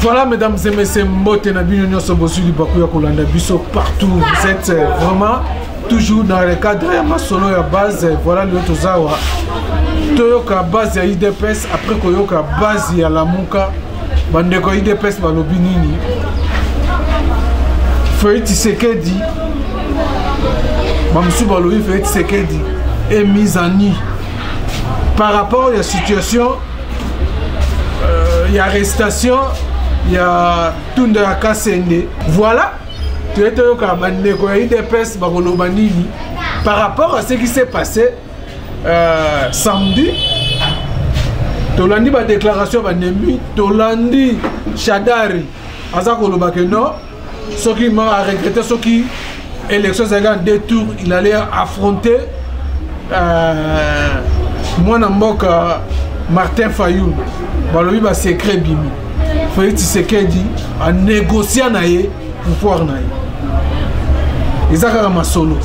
Voilà, mesdames et messieurs, mbote na bino nyoso bozui libaku ya kolanda biso partout. Vous êtes euh, vraiment toujours dans le cadre ya masolo ya base. Voilà lelo tozawa toyoka base ya IDPS après koyoka base ya Lamuka bandeko ya idps balobi nini fei tisekedi bamosusu balobi fei tisekedi e mise en nu par rapport ya situation euh, ya arrestation ya tunda ya kasende voilà toye toyoka bandeko ya idps bakoloba nini par rapport à ce qui s'est passé euh, samedi tolandi badéclaration ya banemi tolandi shadari aza koloba ke non soki ma aregrete soki élection ezalaki en deux tours il allait affronter euh, mwana mboka martin fayoul balobi basecret bimi félix tshisekedi anégociant na ye pouvoir na ye eza kaka masolo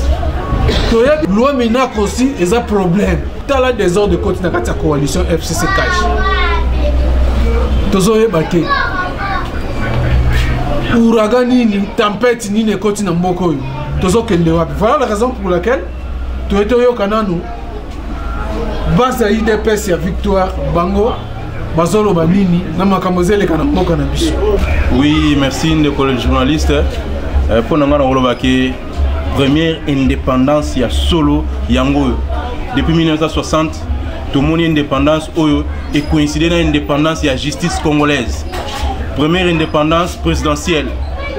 toyebi loi minac aussi eza problème tala desordre ekoti na kati ya coalition fcc cash tozoyeba te ouragan nini tempete nini ekoti na mboka oyo tozokende wapi voilà la raison pour laquelle toye toyoka nanu base ya udps ya victoire bango bazoloba nini na makambo ezeleka na mboka na biso oui merci ndeko le journaliste euh, mpo na ngai nakolobaki première indépendance ya solo yango oyo depuis 1960 tomoni indépendance oyo ekoincide na indépendance ya justice congolaise première indépendance présidentielle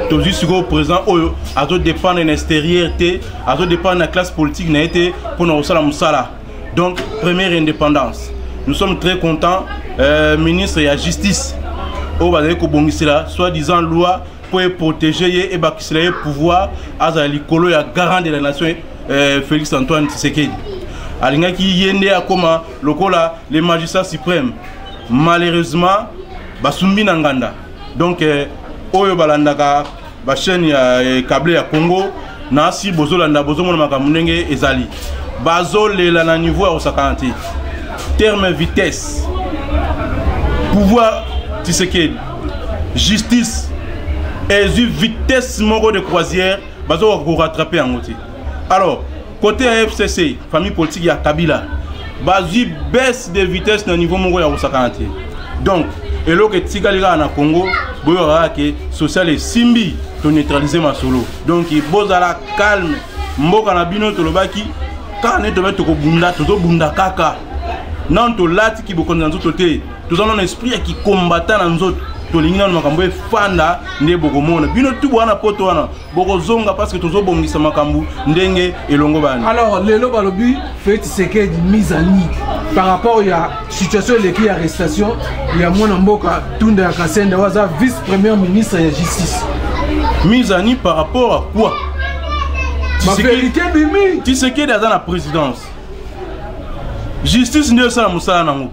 tozwi sikoyo président oyo azodépendre na extérieur te azo dépendre na classe politique na ye te mpo na kosala mosala donc première indépendance nous sommes très contents euh, ministre ya justice oyo bazali kobongisela soit disant loi mpo eprotege ye ebakisela ye pouvoir azala likolo ya garant de la nation euh, félix antoine tshisekedi alingaki ye nde akóma lokola le magistrat suprême malheureusement basumbi na nganda donc euh, oyo balandaka ba chaîne ya eh, cable ya Congo na si bozolanda bozomona makambo ndenge ezali bazolela na niveau ya kosakana te terme vitesse pouvoir tisekedi justice ezwi vitesse moko de croisière bazokoka korattrape yango te alors Côté ya FCC, famille politique ya Kabila, bazwi baisse de vitesse na niveau moko ya kosakana te. Donc, eloko etikali kaka na Congo, boyokaka kaka ke social esimbi to neutraliser masolo. Donc, bozala calme. Mboka na bino tolobaki kaka nde tobe tokobunda tozobunda kaka nano tolati kibokonzi na nzoto te toza nano esprit ya kikombata na nzoto tolingi nano makambo efanda nde bokomona bino tubu wana poto wana bokozonga parce que tozobongisa makambo ndenge elongobani alors lelo balobi feti sekedi mise à nu par rapport ya situation eleki ya arrestation ya mwana mboka tunda ya kasende oyo aza vice premier ministre ya justice mise à nu par rapport à quoi baverité bimi tisekedi aza na présidence justice nde esala mosala nango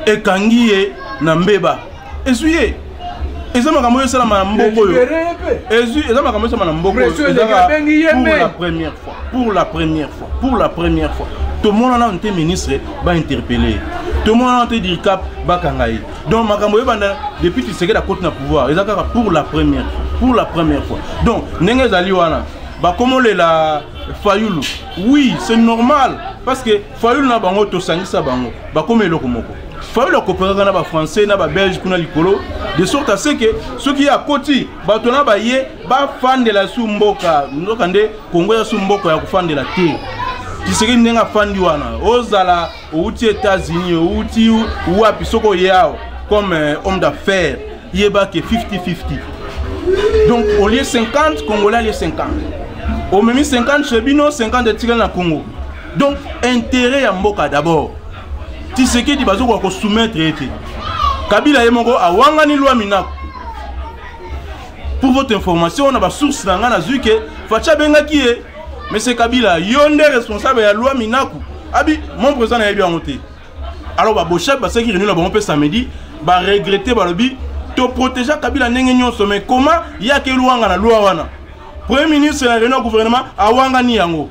ekangi ye na mbeba ezwi ye eza makambo oyo esalama na mboko oyo ezwi eza makambo esalama na mboko oyo ezaka pour la première fois pour la première fois pour la première fois tomona nano te ministre bainterpele ye tomona nano te dircap bakanga ye donc makambo oyebanda depuis tisekedi akoti na pouvoir eza kaka pour la première pour la première fois donc ndenge ezali wana bakomolela fayulu oui c'est normal parce que fayulu na bango tosangisa bango bakoma eloko moko fayulu akoperaka na bafrançais na babelge kuna likolo de sorte à ce que soki ye akoti bato na baye bafandela su mboka nzoka nde kongo eza su mboka ya kofandela te tisekedi ndenge afandi wana ozala outi états-unis outi wapi soki oye awa comme euh, homme d'affaires yeba ke 50-50 donc au lieu 50 congolais alie 50 omemi 50 chez bino 50 etikali na congo donc intérêt ya mboka d'abord tisekedi bazokoka kosoumettre ye te kabila ye moko awangani lwa minako pour votre information na basource na ngai nazwi ke faci abengaki ye monsieur kabila yo nde responsable ya lwa minaku abi mon président nayebi yango te alors baboshab basalaki réunion na bango mpe samedi baregrete balobi toprotégea kabila ndenge nyonso mai koma yaki elwanga na lwa wana premier ministre na réunion ya gouvernement awangani yango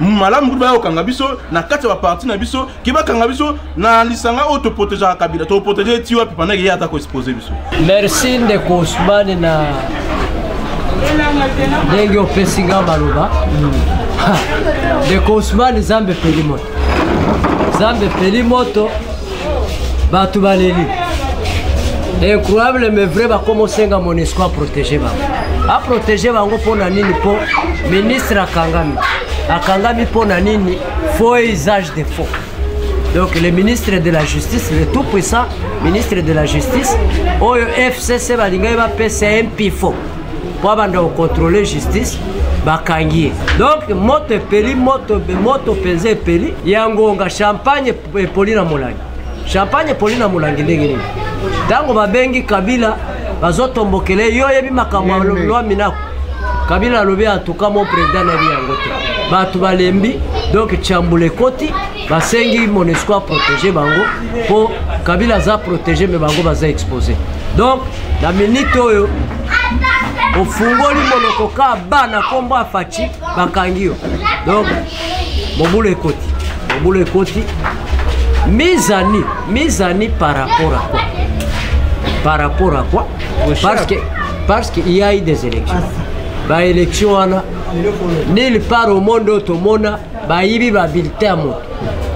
malamu kutu baya kokanga biso na kati ya baparti na biso ke bakanga biso na lisanga oyo toprotegeaka kabila toprotege ye ti wapi pandaki ye ata koexpose biso merci ndeko osmane na ndenge opesi nga maloba ndeko osmane zambe peli moto zambe peli moto bato baleli incroyable mais vrai bakoma osenga monesco aprotege bango aprotege bango mpo na nini mpo ministre akangami akangami mpo na nini faux usage de faux donc le ministre de la justice le tout puissant ministre de la justice oyo fcc balingaki bapesa ye mpifo mpo abanda kocontrole justice bakangi ye donc moto epeli moto moto mpenza epeli ya ngonga champagne epoli na molangi champagne epoli na molangi ndenge nini ntango babengi kabila bazotombokele yo oyebi makambo ya lwa minako kabila alobi antuka mo president nayebi yango te bato balembi donk chambula ekoti basengi monesco aprotege bango mpo kabila aza protege me bango baza expose donk na minite oyo ofungoli monoko ka ba na nkombo ya faci bakangi yo donk mobulu ekoti mobulu ekoti mes amis mes amis par rapport à quoi par rapport à quoi parce que parce qu'il y a eu des élections baélection wana nil part au monde oyo tomona bayibi babulletin ya moto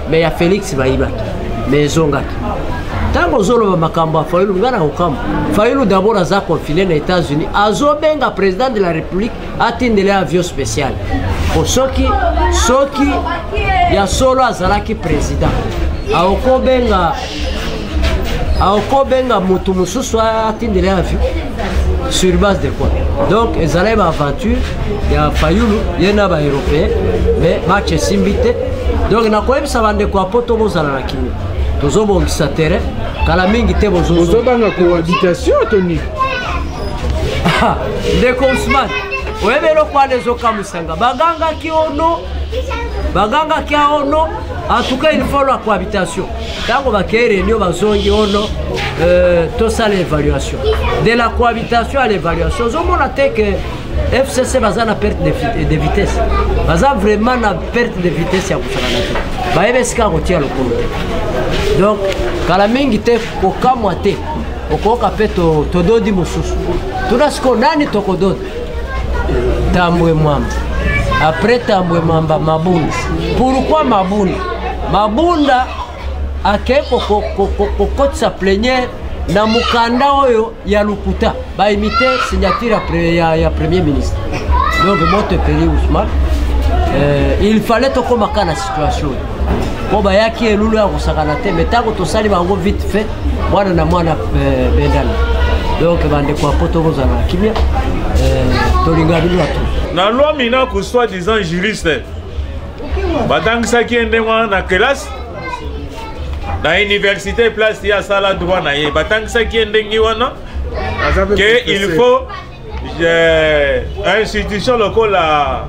me ya félix bayibaki me ezongaki ntango ozoloba makambo ya fayulu ngai na kokambo fayulu dabord aza confine na états-unis azobenga président de la république atindela ye avion spécial po soki soki ya solo azalaki président aokobenga aokobenga motu mosusu atindela ye avion sur base de quoi donc ezalaki baaventure ya fayulu ye na baeuropéen mais match esimbi te donc nakoyebisa bandeko ya poto bozala na kimia tozobongisa terrain kala mingi te bozobanga cohabitation toni Ah, ndeko osman oyebi eloko wana ezokamwisanga bagangaki ono bagangaki aono antuka ilfalo ya cohabitation ntango bakei réunion bazongi ono euh, tosala évaluation de la cohabitation à l'évaluation ozomona te ke fcc baza na perte de vitesse baza vraiment na perte de vitesse ya kosakana te bayebi esika kotia lokolo te donc kala mingi te kokamwa te okoyoka mpe tododi mosusu tuna sikoyo nani tokododi tambwe mwamba apres tambwe mwamba mabunda pourkui mabunda mabunda akei kokotisa pleniere na mokanda oyo ya lokuta baimite signature ya, ya premier ministre donc moto epeli ousmane euh, il fallait tokómaka na situation mpo bayaki elulu ya kosakana te me ntango tosali bango vite fait mwana na mwana eh, bendana donc bandeko ya poto kozala na kimia eh, tolinga bino bato na loi minaku soit disant juriste batangisaki ye ndenge wana na kelasi na université place ye asala droit na ye batangisaki ye ndenge wana ke il faut Yeah. institution lokola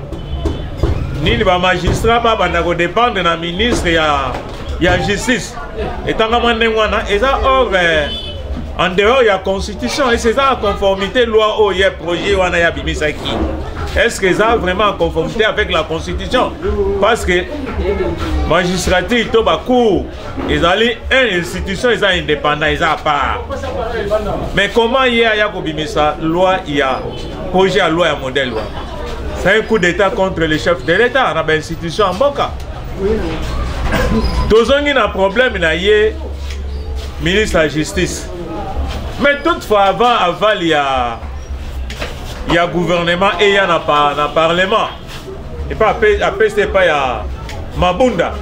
nini bamagistrat babanda kodépendre na ministre ya, ya justice etangama ndenge wana eza or eh, en dehors ya constitution ese eza na conformité loi oyo ya projet wana ya bimisaki est ce que eza vraiment en conformité avec la constitution parce que magistrature to bacour ezali un institution eza indépendant eza à part mais comment ye aya kobimisa loi ya projet ya loi ya modèle wana c'est un coup d'état contre le chef de l'état na bainstitution ya mboka tozongi na problème na ye ministre ya justice mais toutefois avant aval ya ya gouvernement eya na, par, na parlement epa apesi epai ya mabunda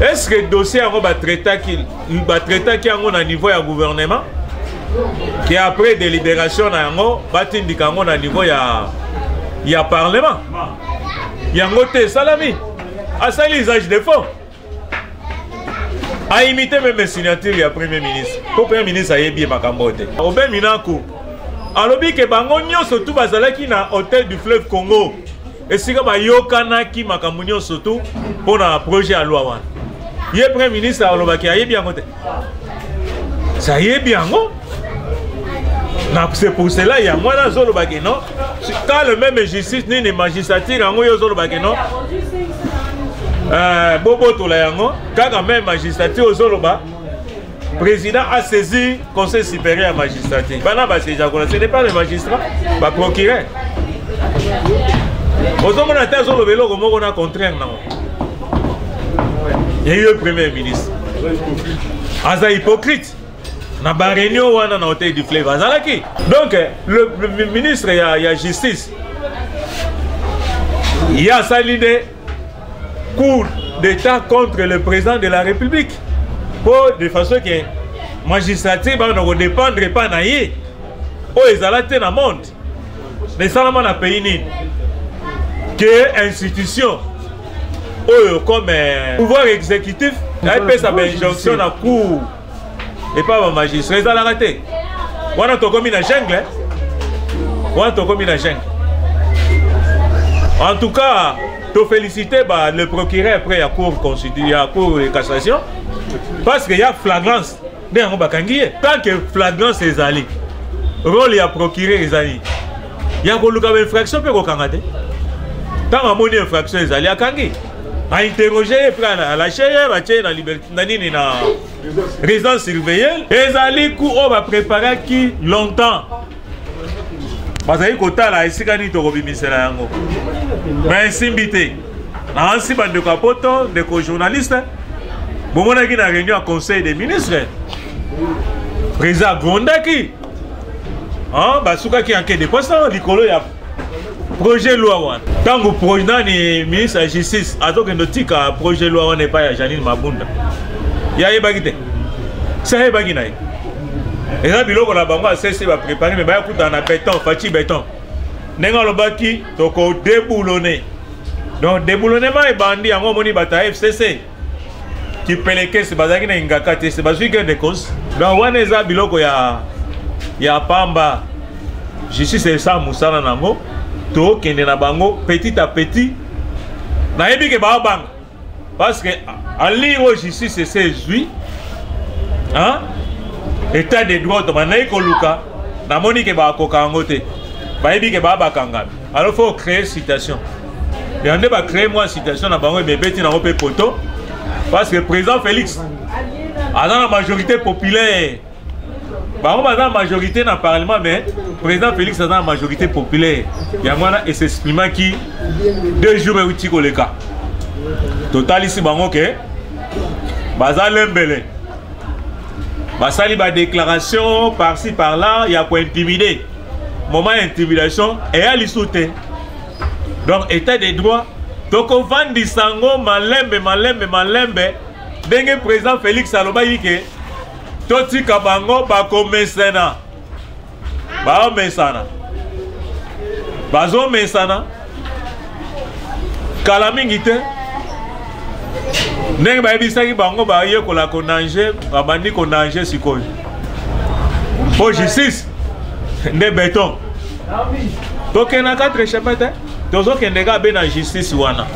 est ce que dossier yango batraitaki batraitaki yango na niveau ya gouvernement ke après délibération na yango batindika yango na niveau ya ya parlement yango te esalami asali usage de fond a imite meme signature ya premier ministre mpo premier ministre ayebi ye makambo oyo te obe minako alobi ke bango nyonso tu bazalaki na hotel du fleuve congo esika bayokanaki makambo nyonso tu mpo na projet ya loi wana ye premier ministre alobaki ayebi yango te sayebi yango c'est pour cela ya mwana azoloba ke non quand le même justice nini magistrature yango yo ozoloba ke non euh, bobotola yango kaka meme magistrature ozoloba président a saisi conseil supérieur ya magistrature bana basejakola ce n'est pas le magistrat baprocureur ozomona te azoloba eloko moko na contraire nango eye premier ministre aza hypocrite na bareunion wana na hotel du fleuve azalaki donc le, le ministre ya, ya justice ye asali nde cour d'état contre le président de la république mpo de façon ke magistrature bana kodépendre epai na ye oyo ezala te na monde mais esalama na pays nini que institution oyo comme euh, pouvoir exécutif epesa bainjonction na cour epai bamagistrat ezalaka te wana tokomi na jungle wana tokomi na jungle en tout cas tofélicité ba le procureur après ya cour constitu ya cour de cassation parce que ya flagrance nde yango bakangi ye tant que flagrance ezali role ya procureur ezali ya koluka bainfraction mpe kokanga te ntango amoni infraction ezali akangi ainterroge ye mpe alache ye batye ye na liberté na nini na résidence surveillée ezali ku oyo bapreparaki longtemps bazali kotala esika nini tokobimisela yango me esimbi te naansi bandeko ya poto ndeko journaliste bomonaki na réunion ya conseil des ministres président agrondaki basukaki yanke de posa likolo ya projet loi wana ntango nani ministre ya justice azokende otika projet loi wana epai ya janine mabunda ye ayebaki te se ayebaki na ye eza biloko na bango asese baprépare me baya kutana na beton faci beton ndenge alobaki tokodeboulone donc deboulonnement ebandi yango omoni bato ya fcc kipelekese bazalaki na ingaka te se bazwi gain de cause donc wana eza biloko ya ya pamba justice esa mosala na yango tokende na bango petit à petit nayebi ke baabanga parce que ali oyo justice ese ezwi état de droit bandaki koluka namoni ke bakoka yango te bayebi ke baa bakangami alors faut créer citation yango nde bacree mwa citation na bango ebebeti nango mpe poto parce que président félix aza na majorité populaire bango baza na majorité na parlement mais président félix aza na majorité populaire yango wana esexprimaki deux jours euti koleka totalisi bango ke baza lembele basali badéclaration par ci par là ya kointimide moment ya intimidation eya lisu te donc état de droit tokovandisa yango malembe malembe malembe ndenge président félix alobaki ke totika bango bakomesana baomesana bazomesana kala mingi te ndenge bayebisaki bango bayekola konange babandi konange sikoyo mpo justice nde beton tokenda 4 echappe te tozokende kaka be na justice wana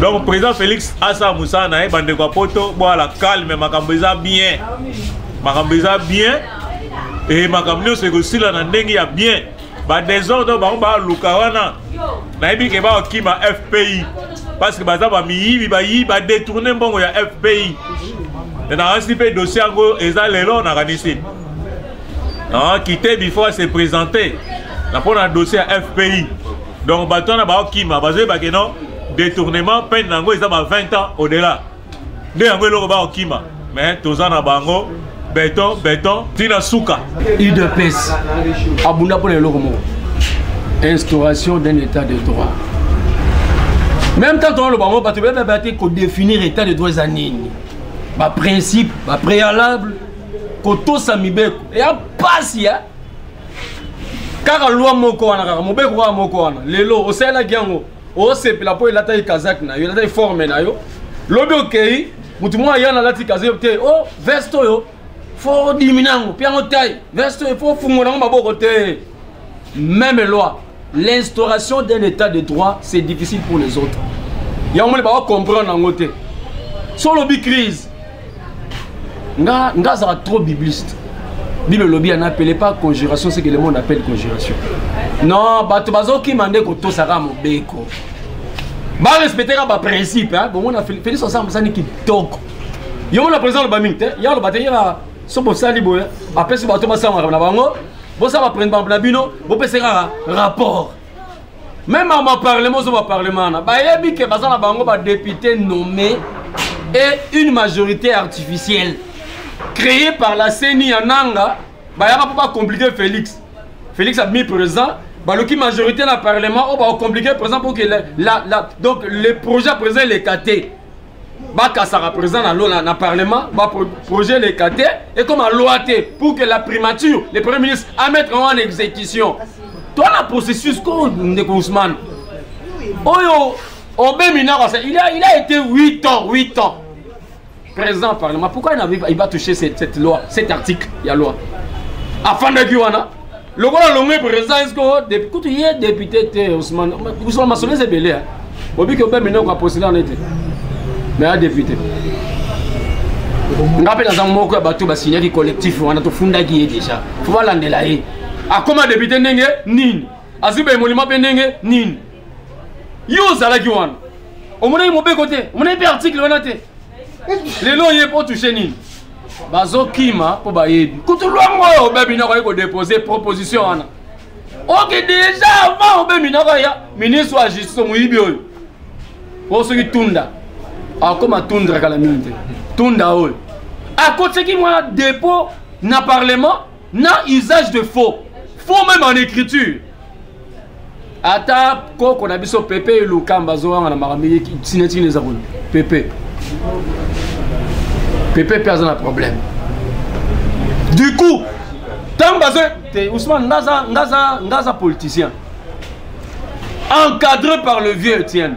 donc président félix asala mosala na ye bandeko ya poto bwala calme makambo eza bien makambo eza bien e makambo nyonso ekosila na ndenge ya bien ba desordre bango baluka wana nayebi ke bakima fpi parce que baza bamiyibi bayibi badetourne mbongo ya fpi nakanisi mpe dossier yango eza lelo nakanisi kite before ase présente na mpo na dossier ya fpi donc bato wana baokima bazoyebake non détournement peine na yango eza ba 20 ans au delà nde yango eloko bakokima me toza na bango beton beton tina suka udps abunda mpona eloko moko instauration d'un état de droit même temps toloba yango bato bebeba te kodéfinir état de droit eza nini baprincipe bapréalable kotosa mibeko eya mpasi ya kaka lwa moko wana kaka mobeko kaka moko wana lelo osalelaki yango osepela mpo elataki kazaki na yo elataki forme na yo lobi okei motu moko aya nalati kazaki te o oh, veste oyo fo odimi nango mpe yango tai veste oyo fo ofungo nango maboko te meme loi l'instauration d'un état de droit c'est difficile pour les autres yango moni bawa comprendre yango te so olobi crise nga nga azala trop bibliste bino lobi en appelé pas conjuration c'est que le monde appelle conjuration non bato bazokima nde kotosaka mobeko barespecteka baprincipe bomona félix osa mosani kitoko yo mona président aloba mingi te ye aloba te yela so bosali boye apesi bato basanganaka na bango bosala baprene na bino bopesa kaka rapport meme ma parlement ozo ba parlement wana bayebi ke baza na bango ba député nommé et une majorité artificielle créée par la ceni ya nanga bayaka mpo bacomplike félix félix abimi présent baloki majorité na parlement oyo bacomplike présent pour que la, la, la, donc le projet ya président elekate bakasaka président na lona na parlement baprojet eleka te ekoma loi te pour que la primature le premier ministre amettre yango en exécution to na processus ko ndeko ousmane oyo obe minako asa il a, il a été 8 ans 8 ans président parlement pourquoi il va toucher cette, cette loi cet article ya loi afandaki wana lokola longue président eske depuis kutu ye député te ousmane ousmane masolo eza ebele ya obiki obe minoko apostila na ete me ya député nga mpe naza moko ya bato basignaki collectif wana tofundaki ye déjà fo balandela ye akoma député ndenge nini azwi baemolima mpe ndenge nini yo ozalaki wana omonaki mobeko te omonaki mpe article wana te lelo oye po touche nini bazokima mpo bayebi kutu lwango oyo obebi noko aye kodepose proposition wana oke deja avant obebi noko ya ministre ya justice moyibi oyo oyo soki tunda akoma tundra kala mingi te tunda oyo akotisaki mwa depot na parlement na usage de faux faux même en écriture ata koko na biso pepe elukamba azowanga na makambo ye sinetini eza kuna pepe pepe mpe aza na problème du coup ntango bazo te ousmane ngaza ngaza ngaza politicien encadré par le vieux etienne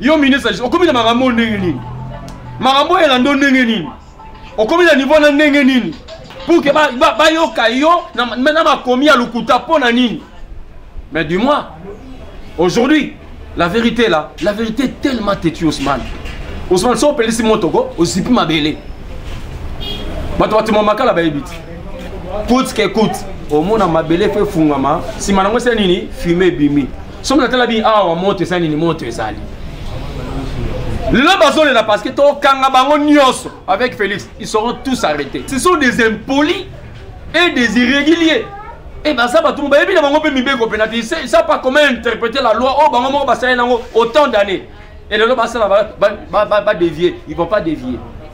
yo ministre justice okomi na makambo oyo ndenge nini makambo oyo elando ndenge nini okomi na niveau na ndenge nini pour ke bayoka yo na makomi ya lokuta mpo na nini mais du moins aujourd'hui la vérité là la vérité est tellement têtue osman osman so opelisi motoko ozipi mabele bato batima makala bayebi te coute ke coute omona mabele fo efungama nsima nango esila nini fume ebimi soki natala bi awa moto eza nini moto ezali lelo bazolela parce que tokanga bango nyonso avec félix ils seront tous arrêtés ce sont des impolis et des irréguliers et baza bato mo bayebi na bango mpe mibeko mpena te sa pas comment interpréter la loi oyo oh, bango moko basaleli nango autant d'année et lelo basala badévier ils vont pas dévier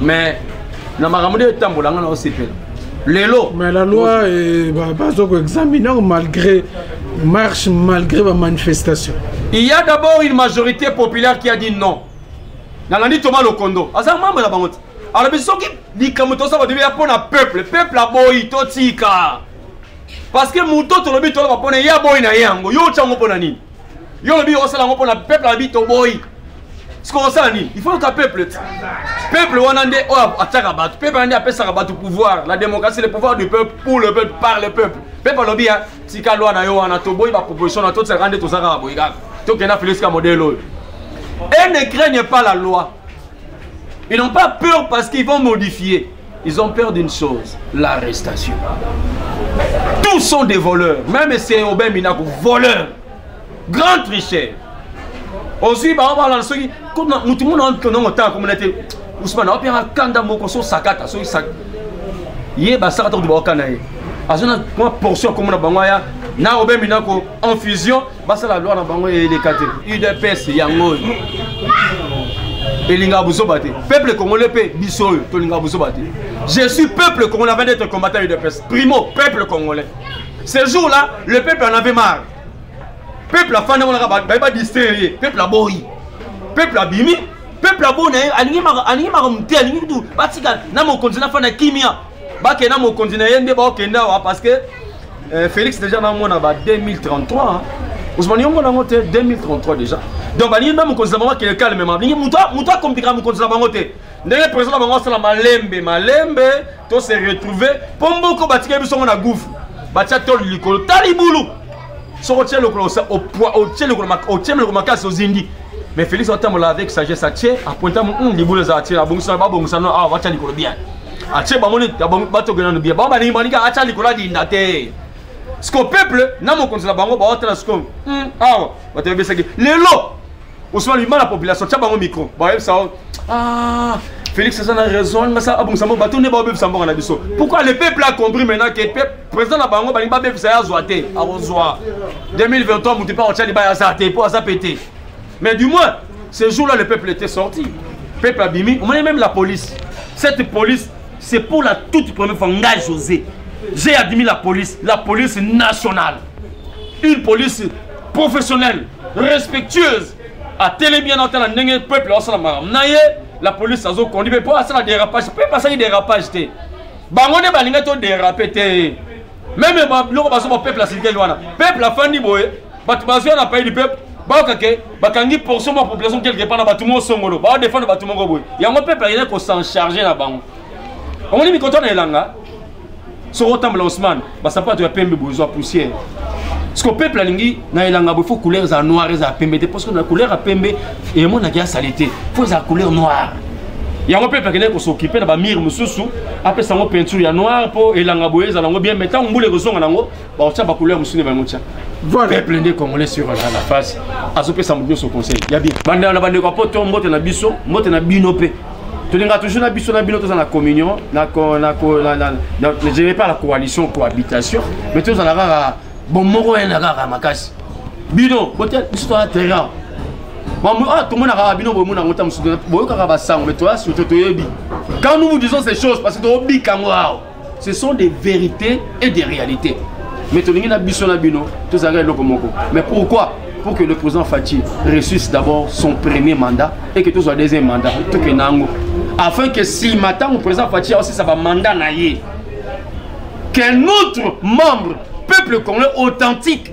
mais na makambo nde etambola nga na osepela lelo mais la loi eh, bazo koexamine yango malgré marche malgré bamanifestation il y a d'abord une majorité populaire qui a dit non nalandi toma lokondo aza mambo na bango te alobi soki likambo tosala bato ya mpo na peuple peuple aboyi totika parce que moto tolobi toloba mpo na ye aboyi na ye yango yo otya yango mpo na nini Yo lobi osala ngo pona peuple abi toboyi. Siko osala nini? Il faut ka peuple. Peuple wana nde oyo ataka batu. Peuple wana nde apesaka batu pouvoir. La démocratie, le pouvoir du peuple pour le peuple par le peuple. Peuple lobi ya tika loi na yo wana toboyi ba proposition na to tsaka nde tozaka boyi kaka. To kena Felix ka modèle oyo. Et ne craignent pas la loi. Ils n'ont pas peur parce qu'ils vont modifier. Ils ont peur d'une chose, l'arrestation. Tous sont des voleurs. Même c'est Aubin Minaku, voleur. Grand tricheur. ozwi bango balanda soki motu mona ntonongo ntango akomona te usmana wapiyanga kanda moko so sakata soki ye basakata kutu baokana ye azwi na portion akomona bango aya na obembi nako infusion basala loi na bango eleka te udps yango oyo elingaka buzoba te peuple congolais mpe biso oyo tolingaka buzoba te je suis peuple congolais avant d'être combattant udps primo peuple congolais ce jour là le peuple en avait marre peuple afandi yango naka baye badistraire ye peuple aboyi peuple abimi peuple aboni alingi makambo te alingi kutu batika na mokonzi nafanda kimia bakende na mokonzi na ye nde baokende awa parce que euh, félix déjà namona ba 2033 ozomani yongo nango te 2033 déjà donc balingi mpe mokonzi na bango akende calmement balingi moto akomplikaka mokonzi na bango te ndenge président na bango asala malembe malembe to se retrouver mpo mboko batikeli biso yango na gouve batya toli likolo tala libulu soki otie lokolo otie lokolo makasi ozindi mais félix atambola avec sagesse atie apointa hmm, libulu ezala tie abongisa babongisa no awa batya likolo bien atie bango nini batokela no bien bango balingi balinga atya likolo adinda te siko peuple na mokonzi na bango baotala siko hmm, awa bato ebesaki lelo osala bima na population tya bango micro bayebisa yo ah, félix aza na raison alinga sa abongisa mboka bato nde baobebisa mboka na biso pourquoi le peuple a compris maintenant ke président na bango balingi babebisa ye azwa te akozwa 2023 moto mpe akotya libaya aza te mpo aza pete mais du moins ce jour là le peuple était sorti peuple abimi omoni même la police cette police c'est pour la toute première fois ngai josé j'ai admis la police la police nationale une police professionnelle respectueuse atelemi wana otala ndenge peuple aosala makambo na ye la police azokondi mpe mpo asala dérapage mpe basali dérapage te bango nde balingai to dérape te meme biloko bazo ba peuple asilikeli wana peuple afandi boye bato bazwi wana paye du peuple bayoka ke bakangi portion ma population quelque part na bato mo songolo baodefendre bato moko boye yango peuple ayei kosencharge na bango omoni mikoto na elanga soko otambola osman basapato ya pembe bozwa poussière siko peuple alingi na elanga bo fo couleur eza noir eza pembe te parce que na couleur ya pembe emonaki ya sali te fo eza couleur noire yango mpe akendaki kosokipe na bamire mosusu apesa yango peinture ya noire mpo elanga boye ezala yango bien mai ntango mbula ekozonga na yango baotya bacouleur mosusu nde bango tya peuple nde congolais sur la face azopesa moto nyonso conseil ya bien bandela na bandeko ya poto mbote na biso mbote na bino mpe tolinga toujours na biso na bino toza na communion na, na, na, na, na, je vais pas la coalition cohabitation mais tozala kaka bomoko ena kaka makasi bino botia biso toza terrain ah, tomonaka bino bomona yango ta mosusu boyokaka basango mais toya surtout toyebi quand nous vous disons ces choses parce que tobika yango awa ce sont des vérités et des réalités mais tolingi na biso na bino tozalaka eloko moko mais pourquoi pour que le président Fatih réussisse d'abord son premier mandat et que tout soit deuxième mandat, tout que nango. Afin que si matin le président Fatih a aussi sa mandat naïe, qu'un autre membre, peuple congolais authentique,